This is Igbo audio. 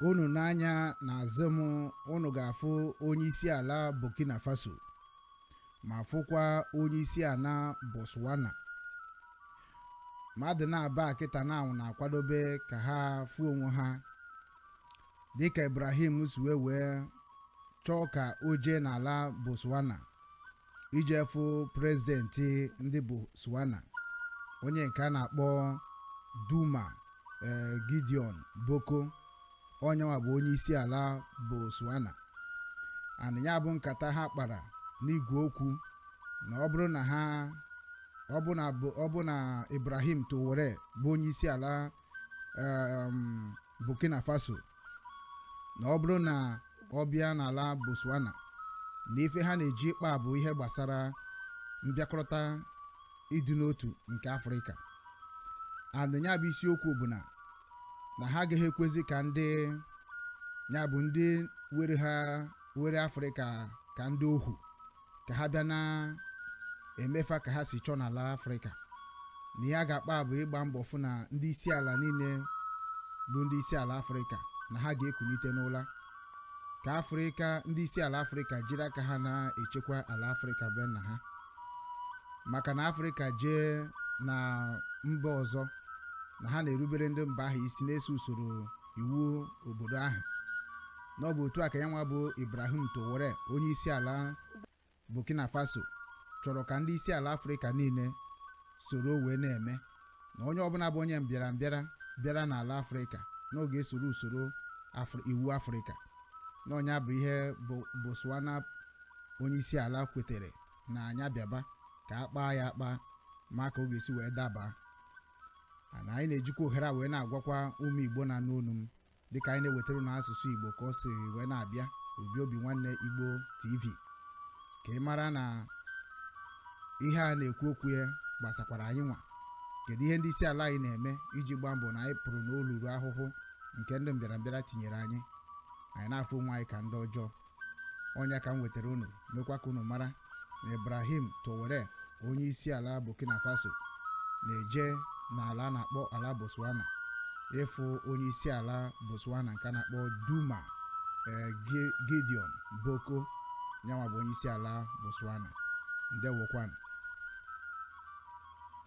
unu nee anya n'azụ m unu ga-afụ onye isi ala burkina faso ma fụkwa onye isi ala botswana mmadụ naabọ a kịta na anwụ na-akwadobe ka ha fụ onwe ha dịka ibrahim si wee wee chọọ ka o jee n'ala botswana ije fụ prezidenti ndị Botswana onye nke a na-akpọ Duma eh, Gideon Boko onyenwa bụ onye isi ala Botswana and ya bụ nkata ha kpara n'igwe okwu na ọ bụrụ na ha ọ bụ na bụ- ọ bụ na Ibrahim Traore bụ onye isi ala um, burkina faso na ọ bụrụ na ọ bịa n'ala botswana na ife ha na-eje ịkpa bụ ihe gbasara mbịakọrịta ịdị n'otu nke afrịka and nya bụ isiokwu bụ na na ha agaghị ekwezi ka ndị ya bụ ndị were ha were afrịka ka ndị ohu ka ha bịa na-eme fa ka ha si chọọ n'ala afrịka na ihe ha ga-akpa bụ ịgba mbọ fụ na ndị isi ala niile bụ ndị isi ala afrịka na ha ga-ekulite n'ụla ka afrịka ndị isi ala afrịka jiri aka ha na-echekwa ala afrịka be nna ha maka na afrịka jee na mba ọzọ na ha na-erubere ndị mba ahụ isi na-eso usoro iwu obodo ahụ na ọ bụ otu a ka ya nwa bụ ibrahim traore onye isi ala burkina faso chọrọ ka ndị isi ala afrịka niile soro wee na-eme na onye ọbụla bụ onye mbịara mbịara bịara n'ala afrịka na ọ ga-esoro usoro Afri- iwu afrịka na ọ nya bụ ihe botswana onye isi ala kwetere na nya bịaba ka a kpaa ya akpa ma ka ọ ga-esi wee daba and anyị na-ejikwa ohere a wee na-agwakwa ụmụ igbo na-anụ olu m dịka anyị na-ewetara n'asụsụ igbo ka o si wee na-abịa obi obi nwanne igbo tv ka ị mara na ihe a na-ekwu okwu ya gbasakwara anyị nwa kedu ihe ndị isi ala anyị na-eme iji gbaa mbọ na anyị pụrụ n'olulu ahụhụ nke ndị mbịarambịara tinyere anyị anyị na-afụ onwe anyị ka ndị ọjọọ ọ nya ka m wetara unu mekwa ka unu mara na ibrahim traore onye isi ala burkina faso na-eje n'ala a na-akpọ ala botswana ịfụ onye isi ala botswana nke a na-akpọ duma eh, Gi- gideon boko yanwa bụ onye isi ala botswana ndewokwanụ